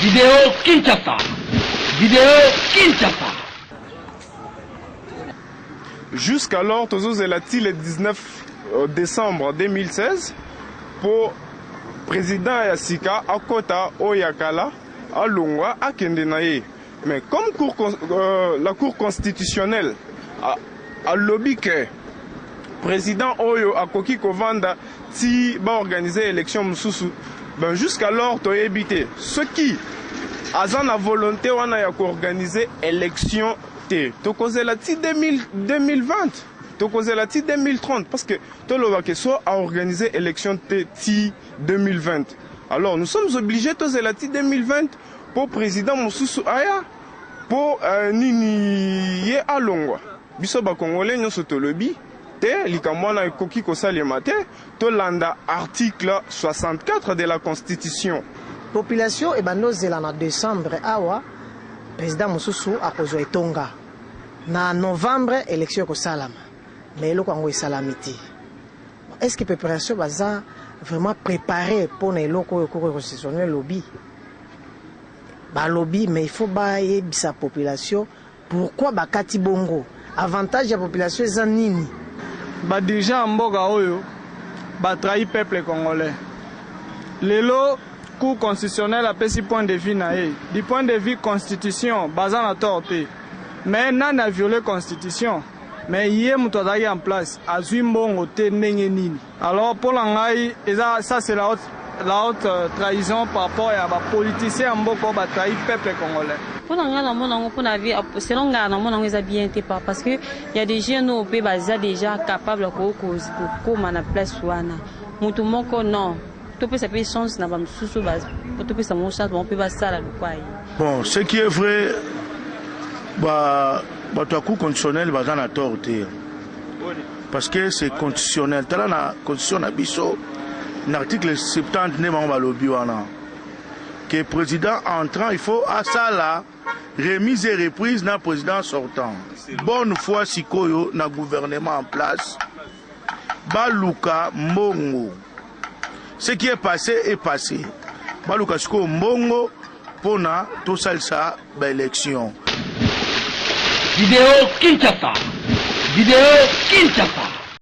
Video Kinshasa. Video Kinshasa. Jusqu'alors, tozozela ti le 19 euh, décembre 2016 mpo président ya sika akota oyo ya kala alongwa akende na ye Mais comme cour, euh, la cour constitutionnelle a, a lobby que président oyo akoki kovanda ti ba organiser élection mususu ben jusqu'alors toyebi te soki aza na volonté wana ya koorganize élection te tokozela ti 2020 tokozela ti 2030 parce que toloba ke so aorganize élection te ti 2020 alors nous sommes obligés tozela ti 2020 Po president mosusu aya po nini ye alongwa biso ba congolais nionso tolobi te likambo wana ekoki kosalema te tolanda article 64 de la constitution. Population ebanda ozela na decembre awa president mosusu akozwa etonga na novembre election ekosalama mais eloko yango esalami te. Est-ce que preparation baza vraiment prepare pona eloko oyo koko ekosisone lobi balobi mais il faut bayebisa population pourquoi bakati bongo avantage ya population eza nini badirigent ya mboka oyo batrahi peuple congolais lelo cour constitutionnel apesi point de vue na ye du point de vue constitution baza na tort te mais nani aviole constitution mais ye moto azalaki en place azwi mbongo te ndenge nini alors mpo na ngai eza ça c'est la haute, la haute euh, trahison par rapport ya bapoliticien ya mboka oyo batrahi peuple congolais mpo na ngai namona yango mpo na vie selon ngai namona yango eza bien te pa parce que ya des jeunes oyo mpe baza déjà capable ya kokoma na place wana moto moko non topesa mpe chance na bamosusu po topesa bango chance bango mpe basala lokwa ye bon ce qui est vrai bato ya cour conditionnel baza na tort te parce que c'est conditionnel tala na constitution na biso na article 70 nde bango balobi wana que président entrant il faut asala remise et reprise na président sortant bonne foi sikoyo na gouvernement en place baluka mbongo ce qui est passé est passé baluka sikoyo mbongo mpo na tosalisa baélection video kinshasa video kinshasa